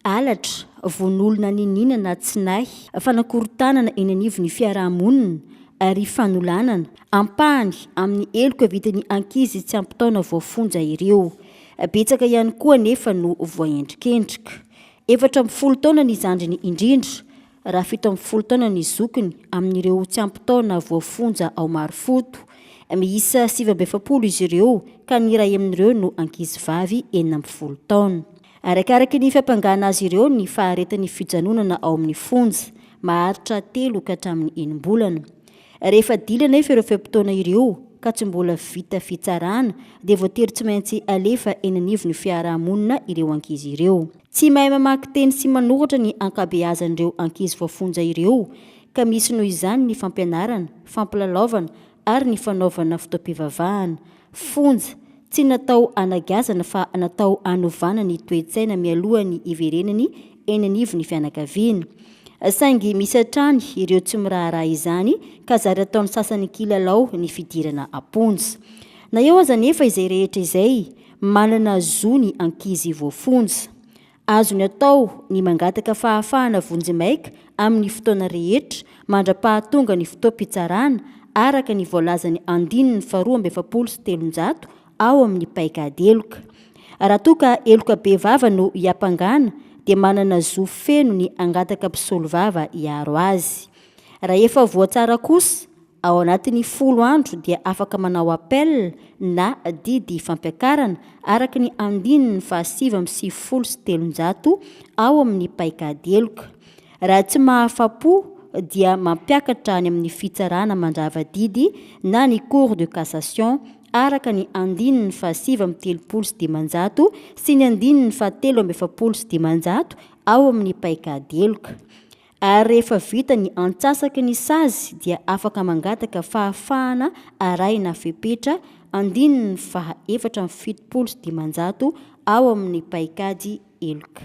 halatra, vonoolona niniana na tsy nahy, fanakorontanana eny anivon'ny fiaraha-monina, ary fanolanana, ampahany amin'ny heloka vitan'ny ankizy tsy ampy taona voafonja ireo. Betsaka ihany koa anefa no voaendrikendrika. Efatra amby folo taona ny zandriny indrindra. raha fito amby folo taona ny zokiny amin'ireo tsy ampy taona voafonja ao Marofoto. Miisa sivy amby efapolo izy ireo ka ny iray amin'ireo no ankizivavy enina amby folo taona. Arakaraky ny fampangana azy ireo ny faharetan'ny fijanonana ao amin'ny fonja, maharitra telo ka hatramin'ny enim-bolana. Rehefa dila anefa ireo fe-potoana ireo ka tsy mbola vita fitsarana dia voatery tsy maintsy alefa eny anivon'ny fiaraha-monina ireo ankizy ireo. Tsy mahay mamaky teny sy manoratra ny ankabeazan'ireo ankizy voafonja ireo ka misy noho izany ny fampianarana, fampilalaovana ary ny fanaovana fotoam-pivavahana. Fonja, tsy natao hanagiazana fa natao hanovana ny toe-tsaina mialohan'ny hiverenany eny anivon'ny fianakaviana. Saingy misy hatrany ireo tsy miraharaha izany ka zary ataon'ny sasany kilalao ny fidirana am-ponja. Na eo aza anefa izay rehetra izay, manana zo ny ankizy voafonja. Azony atao ny mangataka fahafahana vonjimaika amin'ny fotoana rehetra mandra-pahatonga ny fotoam-pitsarana araka ny voalazan'ny andininy faharoa amby efapolo sy telonjato ao amin'ny paikady heloka. Raha toa ka heloka bevava no hiampangana dia manana zo feno ny hangataka mpisolovava hiaro azy. Rahefa voatsara kosa, Ao anatin'ny folo andro dia afaka manao appel na didy fampiakarana araka ny andininy fahasivy amby sivifolo sy telonjato ao amin'ny paikady heloka. Raha tsy mahafa-po dia mampiakatra any amin'ny fitsarana mandrava didy na ny Cour de cassation araka ny andininy fahasivy amby telopolo sy dimanjato sy ny andininy fahatelo amby efapolo sy dimanjato ao amin'ny paikady heloka. Ary rehefa vita ny antsasaky ny sazy dia afaka mangataka fahafahana arahina fepetra andininy faha efatra amby fitopolo sy dimanjato ao amin'ny paikady heloka.